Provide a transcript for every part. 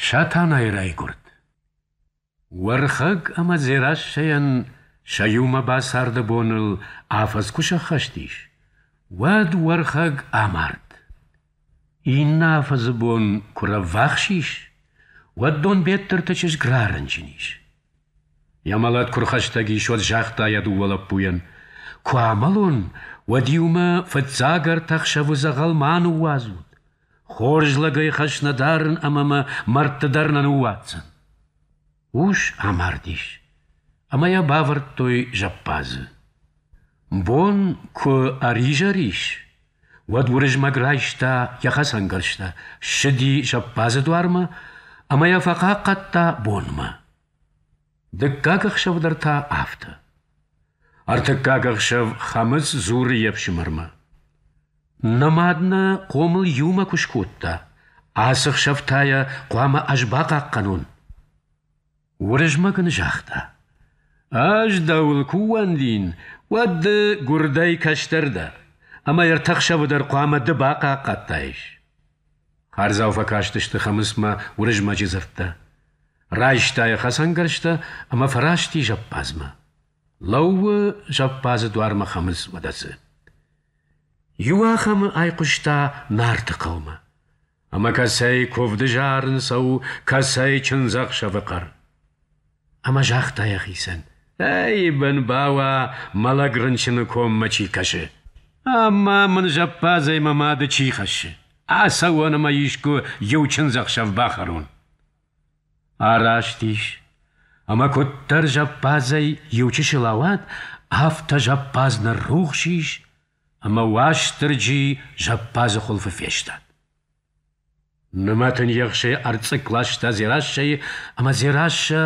Сатанайы райгуырд. Уӕрхӕг ӕмӕ Дзерассӕйӕн сӕ иумӕ бацарды боныл афӕдз куы сӕххӕст ис, уӕд Уӕрхӕг амард. Иннӕ афӕдзы бон куы рӕввахс ис, уӕд Донбеттырты чызг рарынчын ис. Йӕ мӕлӕт куы рхӕстӕг ис, уӕд загъта йӕ дыууӕ лӕппуйӕн: куы амӕлон, уӕд иумӕ фыццаг ӕртӕ ӕхсӕвы дзӕгъӕл ма ныууадзут, Хорз лӕгӕй хӕс нӕ дарын ӕмӕ мӕ мӕрдты дӕр нӕ ныууадздзӕн. Ус амардис, ӕмӕ йӕ бавӕрдтой зӕппадзы. Бон куы ӕризӕр ис, уӕд Уырызмӕг райста йӕ хӕцӕнгӕрзтӕ, ссыди зӕппадзы дуармӕ ӕмӕ йӕ фӕхъахъхъӕдта бонмӕ. Дыккаг ӕхсӕв дӕр та афтӕ. Ӕртыккаг ӕхсӕв Хӕмыц дзуры йе фсымӕрмӕ. Нӕ мад нӕ хъомыл иумӕ куы скодта, ацы хсӕв та йӕ хъуамӕ ӕз бахъахъхъӕнон. Уырызмӕг ын загъта. Ӕз дӕуыл куы ууӕндин, уӕд ды гуырдӕй кӕстӕр дӕ, ӕмӕ ӕртӕ хсӕвы дӕр хъуамӕ ды бахъахъхъӕдтаис. Хардзау фӕкастысты Хӕмыцмӕ Уырызмӕджы дзырдтӕ. Райста йӕ хӕцӕнгӕрзтӕ ӕмӕ фӕрасти зӕппадзмӕ. Лӕууы зӕппадзы дуармӕ Хӕмыц Мӕдӕцы. Иуахӕмы айхъуыста Нарты хъӕумӕ. Ӕмӕ кӕцӕй куывды зарын цӕуы, кӕцӕй чындзӕхсӕвы хъӕр. Ӕмӕ загъта йӕхицӕн: «Ӕй, бын бауа, мӕлӕг рынчыны коммӕ чи кӕсы! Ӕмӕ мын зӕппадзӕй мӕ мады чи хӕссы? Ацӕуон ӕмӕ искуы иу чындзӕхсӕв бахӕрон!» Араст ис, ӕмӕ куыддӕр зӕппадзӕй иучысыл ауад, афтӕ зӕппадз ныррухс ис, ӕмӕ Уастырджи зӕппадзы хуылфы фестад. Нымӕтын ехсӕй ӕрцъыкк ласта Дзерассӕйы, ӕмӕ Дзерассӕ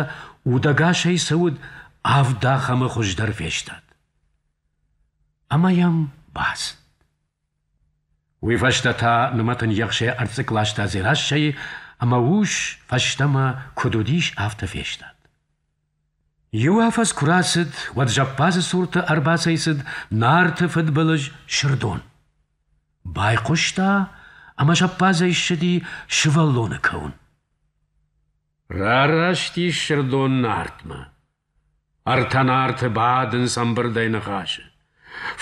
удӕгасӕй цы уыд, авд ахӕмы хуыздӕр фестад. Ӕмӕ йӕм бацыд. Уый фӕстӕ та нымӕтын ехсӕй ӕрцъыкк ласта Дзерассӕйы, ӕмӕ ус фӕстӕмӕ куыд уыдис, афтӕ фестад. Иу афӕдз куы рацыд, уӕд зӕппадзы цурты ӕрбацӕйцыд Нарты фыдбылыз Сырдон. Байхъуыста ӕмӕ зӕппадзӕй ссыди сывӕллоны кӕуын. Рараст ис Сырдон Нартмӕ. Ӕртӕ Нарты бадынц ӕмбырдӕй ныхасы.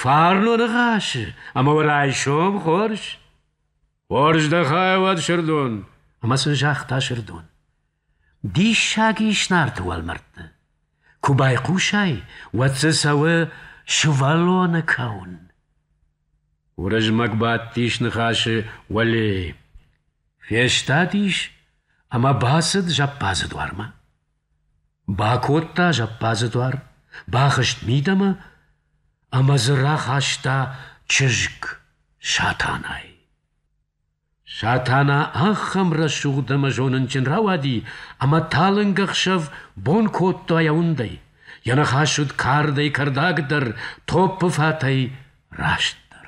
Фарно ныхасы, ӕмӕ уӕ райсом хорз. Хорз дӕхай уӕд, Сырдон, ӕмӕ сын загъта Сырдон. Диссаг ис Нарты уӕлмӕрдты. Куы байхъусай, уӕд дзы цӕуы сывӕллоны кӕуын. Уырызмӕг бадтис ныхасы уӕле, фестадис ӕмӕ бацыд зӕппадзы дуармӕ. Бакодта зӕппадзы дуар, бахызт мидӕмӕ ӕмӕ дзы рахаста чызг Сатанай. Сатана ахӕм рӕсугъд ӕмӕ зонынджын рауади, ӕмӕ талынг ӕхсӕв бон кодта йӕ уындӕй. Йӕ ныхас уыд кардӕй кӕрдӕгдӕр, топпы фатӕй растдӕр.